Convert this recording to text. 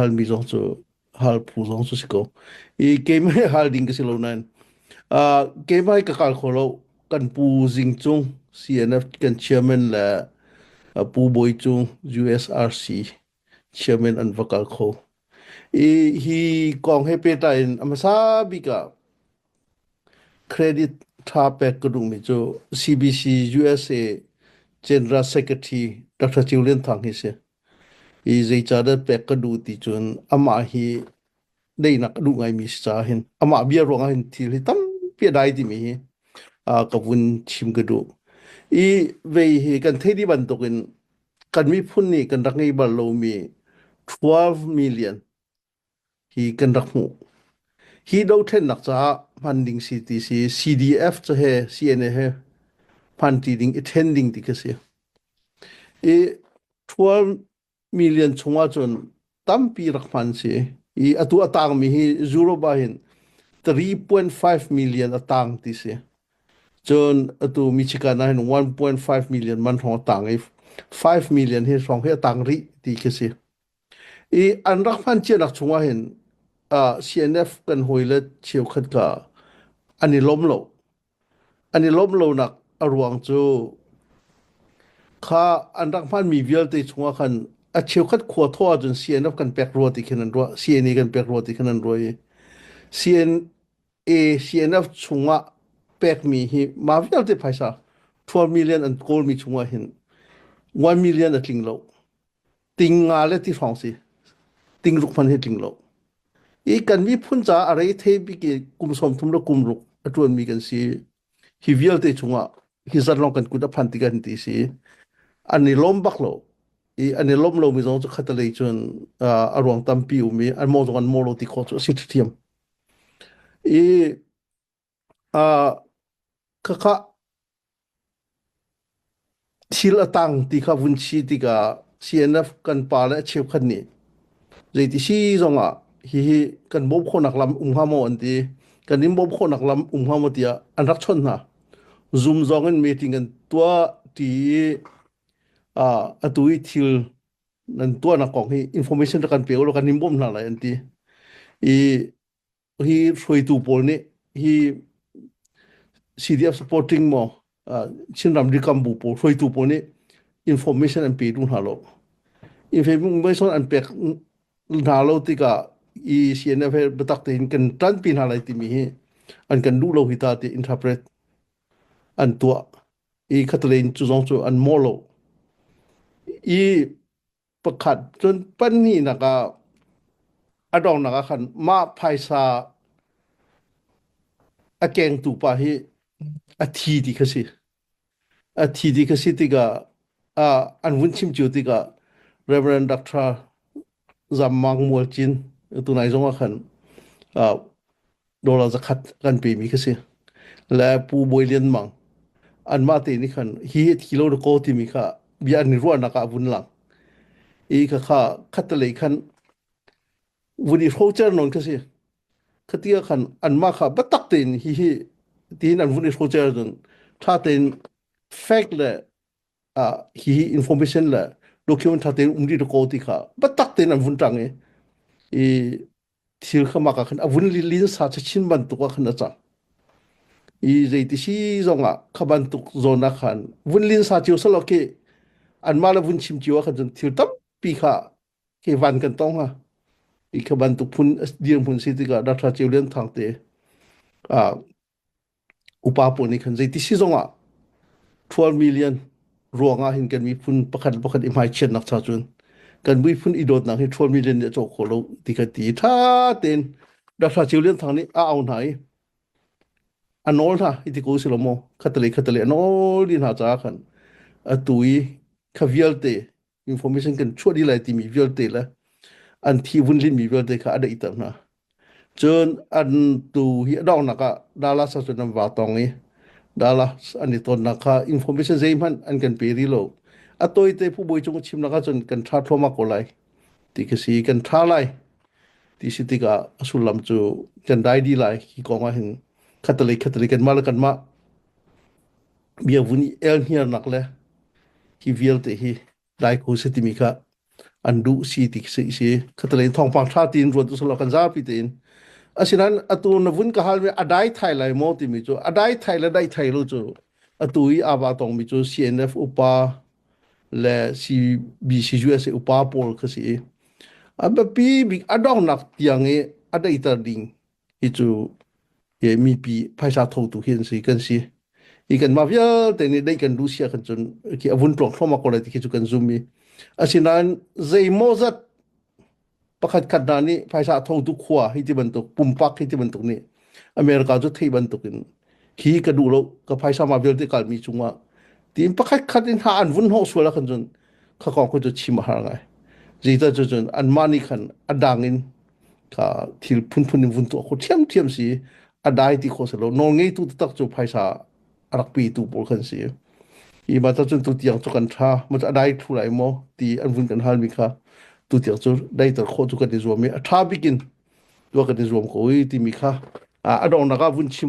halmi zong cu hal phu zong cu si ko i keimah hi hal ding ka si lo nain uh, keimah hi ka kal kho lo kan pu zing cung CNF kan chairman le uh, pu boi cu USRC chairman an va kal kho i hi kong he peta in amasa bika credit tha pek ka dungmi cu CBC USA General Secretary Dr. Chiu Lian Thang hi si I zeicahdah pek ka duh ti cun amah hi daihnak ka duh ngaimi si caah hin amah bia ruangah hin thil hi tampi a dai timi hi ka vun chim ka duh. I vei hi kan theih dih bantukin kan miphun nih kan rak ngei bal lomi thluav milian hi kan rak hmuh. Hi dohthlennak caah hman ding si ti si. CDF cu he CNA he hman ti ding i then ding ti ka si. I thual million chungah cun tampi rak hman si. I atu a tangmi hi Zuroba hin 3.5 million a tang ti si. Cun atu Michigan ah hin 1.5 million man hrawng a tang i 5 million hi hrawng hi a tang rih ti ka si. I an rak hman cianak chungah hin uh, CNF kan hawile cheukhat kha an i lawm lo. An i lawm lonak a ruang cu kha an rak hmanmi vialte chungah khan a cheukhat khua thaw ahcun CNF kan pek rua ti khin an ruah CNE kan pek rua ti khin an ruah i CNA CNF chungah pekmi hi ma vialte phaisa 12 million an kawlmi chungah hin 1 million a tling lo ting nga le ti hrawng si ting ruk hman hi tling lo i kan miphun ca a rei the bik i kum som thum le kum ruk a tuan mi kan si hi vialte chungah hi zan long kan kut a phan tikan ti si an i lom bak lo i an i lom lo mi zong chu khatalei chun a ruang tampi umi an mo zong an mo lo ti kho chu a si thiam i Ah khakha thil a tang ti kha vun si tikah CNF kan pa le cheukhat nih zeiti si zongah hihi kan bawm khawhnak lam um hnga maw an ti. Kan in bawm khawhnak lam um hnga maw tiah an rak chawnh hna. Zoom zong in meeting an tuah ti i ah atu i thil nan tuahnak kong hi information rak kan pe ulaw kan in bawm hna lai an ti. I hi hruaitu pawl nih hi CDF supporting maw Chinram rikam bu pawl hruaitu pawl nih information an pe duh hna lo information an pek hna lo tikah i CNF he biatak tein kan tanpi hna lai timi hi an kan duh lo hi ta ti interpret an tuah i khatale in cu zong cu an mawh lo i pakhat cun pahnihnak ah a donghnak ah khan mah phaisa a kengtu pa hi a thi ti kha si a thi ti kha si tikah uh, an vun chim cio tikah Reverend Dr. Zam Mang Mual Cin tunai zong ah khan uh, dollar zakhat kan pe mi kha si le pu bawi lian mang an mah te ni khan hi kilo ko ti mi kha bia ni ruah nak ah vun lang i kha kha khat lei khan vun i ro cher non kha si khatia khan an mah kha batak tein hi hi tin an vun i ro cher dun tha tein fact le a hi hi information le document tha tein umdi to ko ti kha batak tein an vun tang i i thir khamak ah khan a vun lilin sa cu chin bantuk ah khan a cang i zeiti si zong ah kha bantuk zawn ah khan vun lin sa cio selaw ke anmah le vun chim cio ah khan cun thir tampi kha ke van kan tong ha i kha bantuk phun dirhmun si tikah dah ṭha cio lian thang te a upa pawl nih khan zei ti si zongah 12 million ruangah hin kan miphun pakhat pakhat i hmaichiatnak cha cun kan miphun i dawtnak hi 12 million nih a cawk khawh lo ti kan ti tha tein Dr. Chiu Lian Thang nih a au hna i a nawl hna i ti ko si lo maw khatale khatale a nawl i hna caah khan atu i kha vialte information kan chuah dih lai timi vialte le an thi vun lin mi vialte kha a daih ter hna cun an tu hi adongnak ah dala sa cun an wa tong i dala an i tonnak kha information zei hmanh an kan pe rih lo a toi te phu boi chung chim nak cun kan tha thloma ko lai ti ka si kan tha lai ti si tikah a sullam cu kan dai di lai ki kong ah hin khatale khatale kan ma le kan ma biavun i elhniarnak le hi vialte hi daikhu si timi kha an duh si ti si si khataleng thawngpang tha tiin ruat usalaw kan zapi tein asinain atu na vun ka hal mi adai thai lai mo timi cu adai thai le dai thai lo cu atu i aba tong mi cu CNF upa le CBC USA upa pawl kha si i a biapi bik adongnak tiang i adaitar ding i cu i mipi phaisa thotu hi an si kan si i kan mah vialte nih dei kan lu sia kan cun ki avun tlok thloma ko lai ti khi cu kan zum i asinain zeimaw zat pakhat khat hna nih phaisa thotu khua hi ti bantuk pumpak hi ti bantuk nih america cu thei bantuk in khi ka duh lo ka phaisa ma vialte kalmi cungah tiin pakhat khat in ha an vun ho sual a kan cun kha kong khu cu chim a har ngai zita cu cun an mah nih khan a dang in ka thil phunphun in vun tuah khawh ṭhiamṭhiam si i a dai ti kho seh lo nawlngeitu taktak cu phaisa a rak petu pawl kan si hi ma cun tutiang cu kan ṭha ma cu a dai thlu lai maw ti an vun kan halmi kha tutiang cu daiter khawh cu kan i zuam i a ṭha bikin tuah kan i zuam ko i timi kha a donghnak ah vun chim